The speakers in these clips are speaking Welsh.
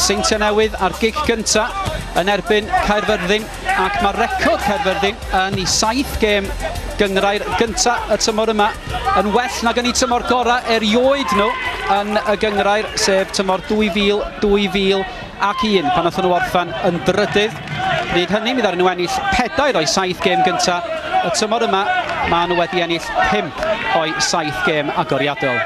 Seintiau Newydd a'r gig gynta yn erbyn Caerfyrddin ac mae'r record Caerfyrddin yn i saith gêm gyngrair gynta y tymor yma yn well nag yn ei tymor gorau erioed nhw yn y gyngrair sef tymor 2000, 2000 ac un pan oedden nhw orffen yn drydydd. Nid hynny, mi ddaru nhw ennill pedair o'i saith gêm gynta y tymor yma, maen nhw wedi ennill pimp o'i saith gêm agoriadol.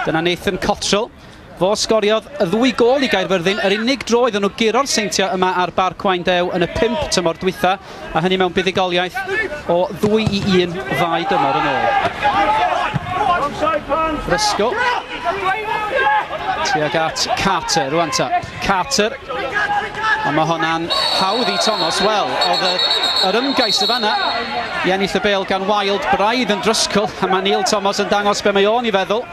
Dyna Nathan Cottrell. Fo sgoriodd y ddwy gôl i Gaerfyrddin, yr unig dro iddyn nhw guro'r Seintiau yma ar Barc Waun Dew yn y pump tymor dwytha, a hynny mewn buddugoliaeth o ddwy i un ddau dymor yn ôl. Rysgo. Tuag at Carter rwan ta. Carter. Ond mae honna'n hawdd i Thomas. Wel, oedd y, yr ymgais y fanna i ennill y bel gan Wild braidd yn drysgol, a mae Neil Thomas yn dangos be mae o'n i feddwl.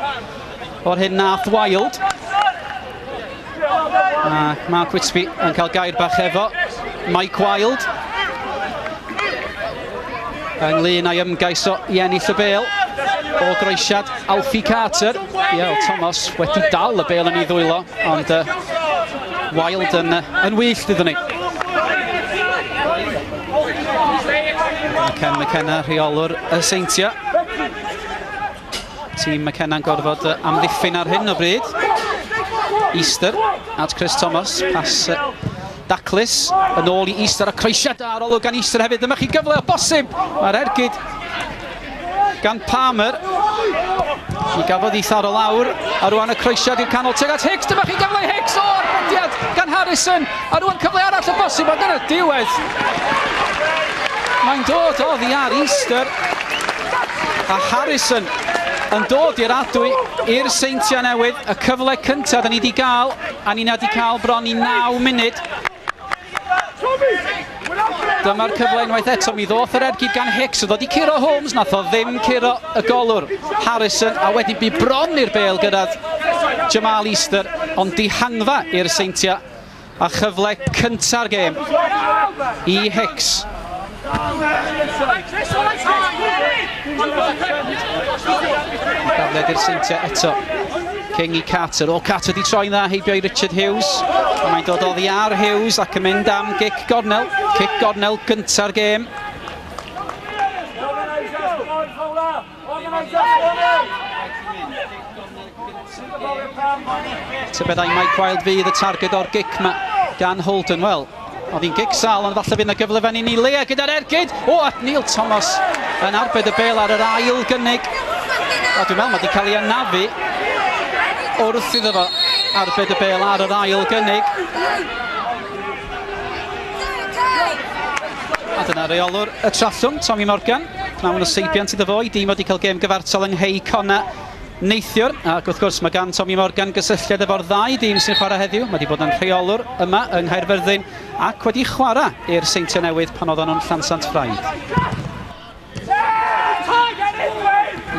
o'r hyn nath Wild. Ac mae Quitsby yn cael gair bach efo Mike Wild. Ynglyn â'i ymgais o i ennill y bel o groesiad Alfie Carter. Iael Thomas wedi dal y bel yn ei ddwylo, ond uh, Wild yn, uh, yn wyllt iddyn ni. Ken McKenna, rheolwr y Seintiau. Tîm McKenna'n gorfod amddiffyn ar hyn o bryd. Easter at Chris Thomas. Pas daclus yn ôl i Easter a croesiad da ar olwg gan Easter hefyd. Dyma chi gyfle o bosib. Mae'r ergyd gan Palmer. Ni gafodd ei tharo lawr. A rwan y croesiad i'r canol tuag at Hicks. Dyma chi gyfle i Hicks. O, arbediad gan Harrison. A rwan cyfle arall o bosib ond yn y diwedd. Mae'n dod oddi ar Easter. A Harrison yn dod i'r adwy i'r Seintiau Newydd. Y cyfle cyntaf da ni wedi cael, a ni na wedi cael bron i 9 munud. Dyma'r cyfle unwaith eto, mi ddoth yr ergyd gan Hicks, oedd wedi curo Holmes, nath o ddim curo y golwr Harrison, a wedyn bu bron i'r bel gyrraedd Jamal Easter, ond dihangfa i'r Seintiau. A chyfle cynta'r gêm i Hicks. Dafliad i'r seintiau eto. King i Carter. O, Carter wedi troi'n dda heibio i Richard Hughes. A mae'n dod oddi ar Hughes ac yn mynd am gic gornel. Cic gornel gynta'r gêm. Tybeddau Mike Wild fydd y targed o'r gic ma gan Holden. Wel, oedd hi'n gic sal, ond falle fydd yna gyfle fan i ni Lea gyda'r ergyd. O, at Neil Thomas yn arbed y bel ar yr ail gynnig. A dwi'n meddwl mae wedi cael ei anafu wrth iddo fo arbed y bel ar yr ail gynnig. A dyna reolwr y trallwng, Tommy Morgan. Mae hwn o seibiant iddo fo i dîm wedi cael gêm gyfartal yng Nghei Cona neithiwr. Ac wrth gwrs mae gan Tommy Morgan gysylltiad efo'r ddau dîm sy'n chwarae heddiw. Mae wedi bod yn rheolwr yma yng Nghaerfyrddin ac wedi chwarae i'r Seintiau Newydd pan oedden nhw'n Llansant Ffraid.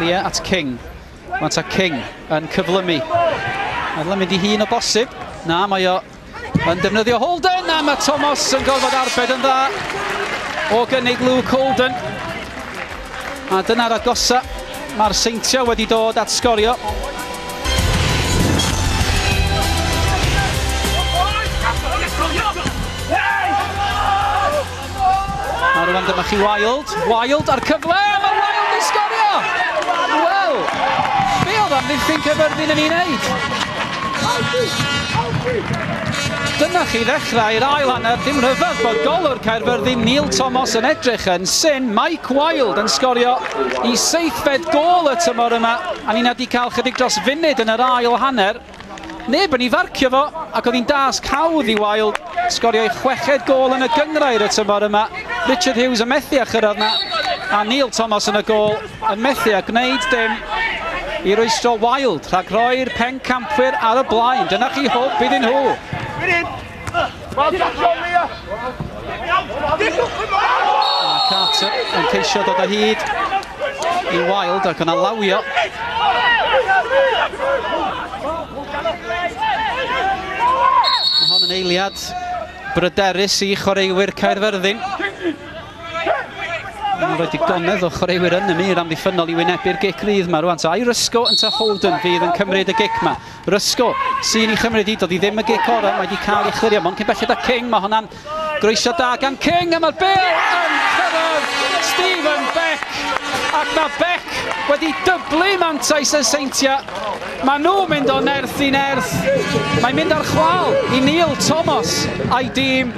Lia at King. Mae ta King yn cyflymu. Mae'n mynd i hun o bosib. Na, mae o Yn defnyddio Holden a mae Thomas yn gorfod arbed yn dda o gynnig Luke Holden. A dyna'r agosa. Mae'r seintiau wedi dod at sgorio. A rwan dyma chi Wild. Wild ar cyfle. Mae Wild yn sgorio! Wel, be oedd am ddiffyn cyfyrddin yn ei wneud? Dyna chi ddechrau'r ail hanner. Dim rhyfedd bod golwr Caerfyrddin Neil Thomas yn edrych yn syn. Mike Wild yn sgorio i seithfed gol y tymor yma. A ni wedi cael chydig dros funud yn yr ail hanner. Neb yn ei farcio fo ac oedd hi'n dasg hawdd i Wild sgorio ei chweched gôl yn y gynghrair y tymor yma. Richard Hughes yn methu â chyrraedd na a Neil Thomas yn y gôl yn methu â gwneud dim i rwystro Wild rhag rhoi'r pencampwyr ar y blaen. Dyna chi hwb iddyn nhw. Wel, Jack John Mia! A Carter yn ceisio dod o hyd i Wild ac yna lawio. Mae hon yn eiliad bryderus i chwaraewyr Caerfyrddin. Mae'n rhoi digonedd o chwaraewyr yn y mur amddiffynnol i wynebu'r gic rydd yma rwan. So Irisco yn ta Holden fydd yn cymryd y gic yma. Rysco sy'n ei chymryd hi, doedd hi ddim y gic orau, mae wedi cael ei chlirio, mond cyn belled a King, mae hwnna'n groeso da gan King a mae'r bel yn cyrraedd Stephen Beck ac mae Beck wedi dyblu mantais y Seintiau. Mae nhw mynd o nerth i nerth, mae mynd ar chwal i Neil Thomas a'i dîm.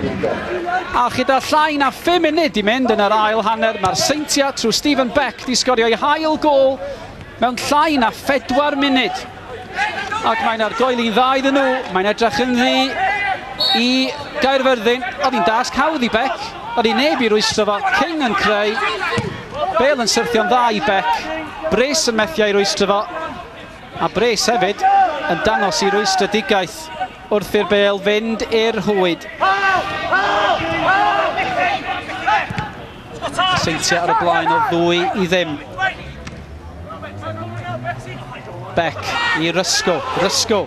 A chyda llai na 5 munud i mynd yn yr ail hanner, mae'r Seintiau trwy Stephen Beck wedi sgorio eu hail gol mewn llai na 4 munud. ac mae'n argoeli'n dda iddyn nhw, mae'n edrych yn ddi i Gaerfyrddin, oedd hi'n dasg hawdd i Bec, oedd hi'n neb i rwystro fo, King yn creu, Bale yn syrthio'n dda i Bec, Bres yn methu ei rwystro fo, a Bres hefyd yn dangos i rwystredigaeth wrth i'r Bale fynd i'r hwyd. Seintiau ar y blaen o ddwy i ddim. Beck i Rysgo, Rysgo.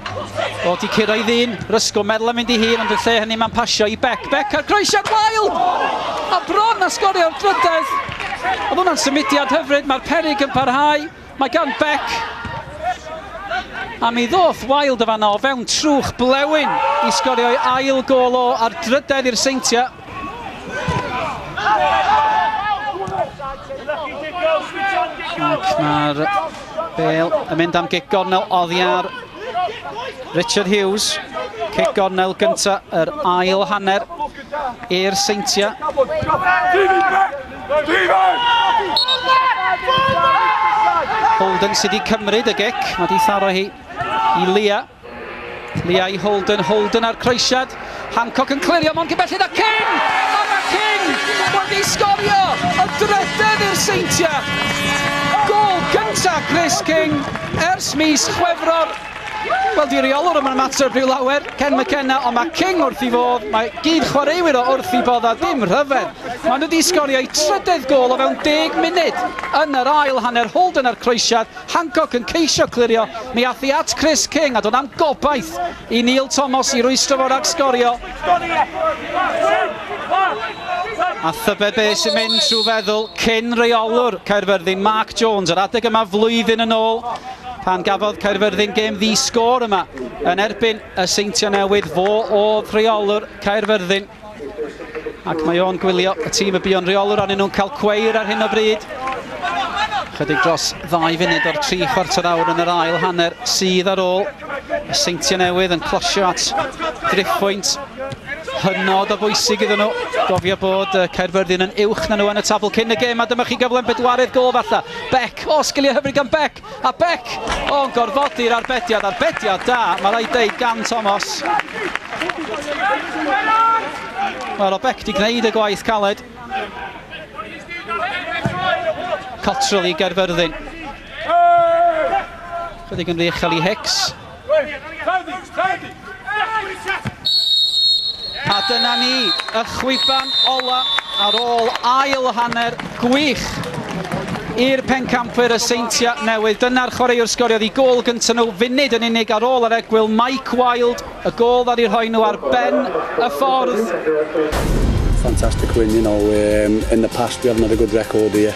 O, di curo i ddyn, Rysgo meddwl am mynd i hun, ond y lle hynny mae'n pasio i Beck. Beck ar groesiad wael! A bron a sgorio'r drydedd. Oedd hwnna'n symudiad hyfryd, mae'r perig yn parhau. Mae gan Beck, a mi ddoth Wilde o fanna o fewn trwch blewyn i sgorio'i ail gôl o a'r drydedd i'r Seintiau. Ac mae'r bel yn mynd am gic gornel oddi ar Richard Hughes. Cic gornel gyntaf yr ail hanner i'r Seintiau. Holden sydd wedi cymryd y gic, mae wedi tharo hi i Lia. Lia i Holden, Holden ar croesiad. Hancock yn clirio, mae'n gybellid a King! A mae King wedi sgorio y drydedd i'r seintiau. Gol gyntaf Chris King ers mis Chwefror Wel, di reolwr yma'n ymateb rhyw lawer, Ken McKenna, ond mae King wrth i fodd, mae gyd chwaraewyr o wrth i bodd a dim rhyfedd. Mae nhw wedi sgorio eu trydedd gol o fewn deg munud. Yn yr ail hanner, Holden a'r croesiad, Hancock yn ceisio clirio, mi ath hi at Chris King a doedd am gobaith i Neil Thomas i rwystro fo rhag sgorio. A thybe be sy'n mynd trwy feddwl cyn reolwr Caerfyrddin, Mark Jones, yr adeg yma flwyddyn yn ôl, Pan gafodd Caerfyrddin gêm ddi-sgôr yma yn erbyn y Seintiau Newydd, fo oedd rheolwr Caerfyrddin. Ac mae o'n gwylio y tîm y buon rheolwr arnyn nhw'n cael cweir ar hyn o bryd. Chydig dros ddau funud o'r tri chwarter awr yn yr ail hanner sydd ar ôl. Y Seintiau Newydd yn closio at driphwynt hynod o bwysig iddyn nhw. Gofio bod Caerfyrddin yn uwch na nhw yn y tabl cyn y gêm, a dyma chi gyfle'n bedwaredd gol falle. Beck, o sgiliau hyfryd gan Beck, a Beck o'n gorfodi'r arbediad, arbediad da, mae rai deud gan Thomas. Wel, o Beck di gwneud y gwaith caled. Cottrell i Gaerfyrddin. Chydig yn rych i Hicks. A dyna ni, y chwiban ola ar ôl ail hanner gwych i'r pencampwyr y Seintiau Newydd. Dyna'r chwaraewr sgoriodd i gôl gyntaf nhw funud yn unig ar ôl yr egwyl, Mike Wild, y gôl ddaru rhoi nhw ar ben y ffordd. Fantastic win, you know, um, in the past we haven't had a good record here.